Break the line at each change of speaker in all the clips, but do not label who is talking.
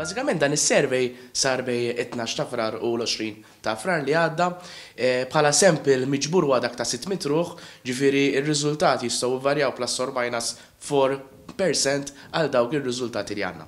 Bażikament dan is-survey sar bejn it-tnax ta' Frar u l-għoxrin ta' Frar li għadda. Bħala sample miġbur huwa dak ta' 600 ruħ, ġifieri r-riżultati jistgħu jvarjaw plus or minus 4 percent għal dawk ir-riżultati li għandna.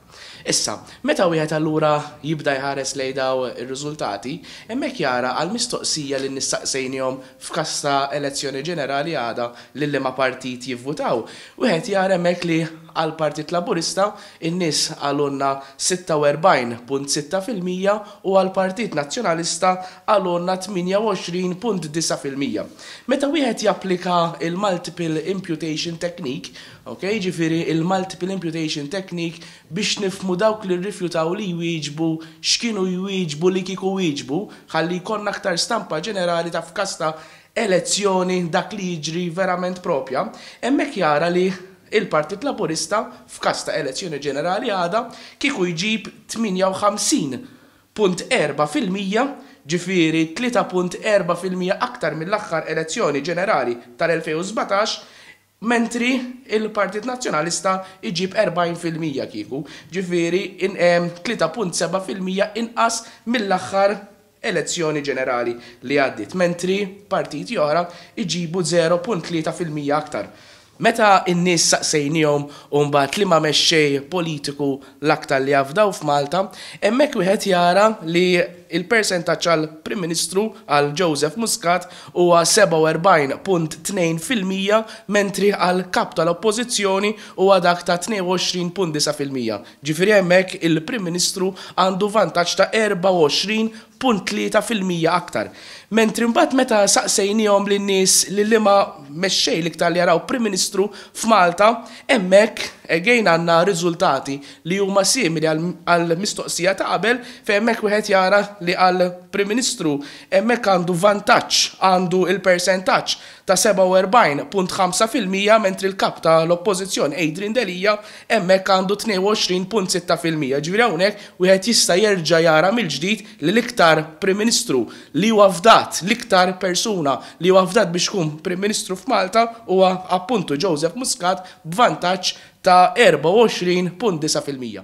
Issa, meta wieħed allura jibda jħares lejn dawn ir-riżultati, hemmhekk jara għall-mistoqsija li nistaqsejniehom f'każ ta' elezzjoni ġenerali għada lil liema partit jivvutaw. Wieħed jara hemmhekk li għall-Partit Laburista n-nies qalulna 46.6 fil-mija u għall-Partit Nazzjonalista qalulna 28.9 fil-mija. Meta wieħed japplika l-multiple imputation technique, ok, jiġifieri l-multiple imputation technique biex nifhmu dawk li rrifjutaw li jwieġbu x'kienu jwieġbu li kieku wieġbu, ħalli jkollna aktar stampa ġenerali ta' f'każ ta' elezzjoni dak li jiġri verament proprja, hemmhekk jara li l-Partit Laburista, f'każ ta' elezzjoni ġenerali għada, kieku jġib 58.4 fil-mija, ġifieri 3.4 fil-mija aktar mill-aħħar elezzjoni ġenerali tal-2017, Mentri il-Partit Nazzjonalista jġib 40 fil-mija kieku, ġifieri 3.7 fil-mija inqas mill-aħħar elezzjoni ġenerali li għaddiet, mentri partiti oħra jġibu 0.3 fil-mija aktar. Meta n-nies saqsejniehom mbagħad liema mexxej politiku L-aktar li afdaw f'Malta, hemmhekk wieħed jara li l-persentaġġ għal Prim Ministru, għal Joseph Muscat, huwa 47.2 fil-mija mentri għal Kap tal-Oppożizzjoni huwa dak ta' 22.9 fil-mija. Ġifieri hemmhekk il-Prim Ministru għandu vantaġġ ta' 24 punt tlieta fil-mija aktar. Mentri mbagħad meta saqsejniehom lin-nies lil liema mexxej l-iktar li jaraw Prim Ministru f'Malta, hemmhekk again għandna riżultati li huma simili għall-mistoqsija ta' qabel fejn hemmhekk wieħed jara li għall-Prim Ministru hemmhekk għandu vantaġġ, għandu l-persentaġġ. ta' 47.5 fil-mija mentri l-Kap ta' l-Oppożizzjoni Adrian Delia hemmhekk għandu 22.6 fil-mija. Jiġifieri hawnhekk wieħed jista' jerġa' jara mill-ġdid li l-iktar Prim Ministru li huwa fdat, l-iktar persuna li huwa fdat biex ikun Prim Ministru f'Malta huwa appuntu Joseph Muscat b'vantaġġ ta' 24.9 fil-mija.